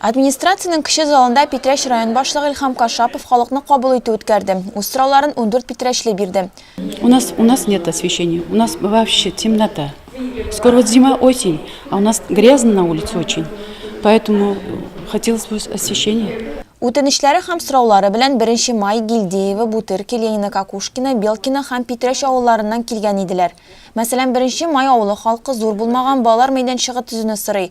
Администрациянең кече залында Питрәч район башлыгы Илһам Кашапов халыкны кабул итү үткәрде. Үз сорауларын ундүрт питрәчле бирде. У нас у нас нет освещения, у нас вообще темнота. Скоро вот зима, осень, а у нас грязно на улице очень, поэтому хотелось бы освещение. Үтенечләре һәм сораулары белән беренче май Гильдеева, Бутыр, Келенина, Какушкина, Белкина һәм Питрәч авылларыннан килгән иделәр. Мәсәлән, беренче май авылы халкы зур булмаган балалар мәйданчыгы төзүне сорый.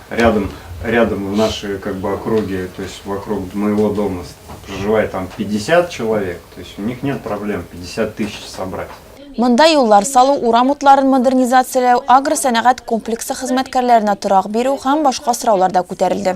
Рядом рядом в наши как бы округе то есть вокруг моего дома проживает там 50 человек то есть у них нет проблем 50 тысяч собрать Монда юллар салу, урам утларын модернизацияләү, агросәнәгать комплексы хезмәткәрләренә торак бирү һәм башка сораулар да күтәрелде.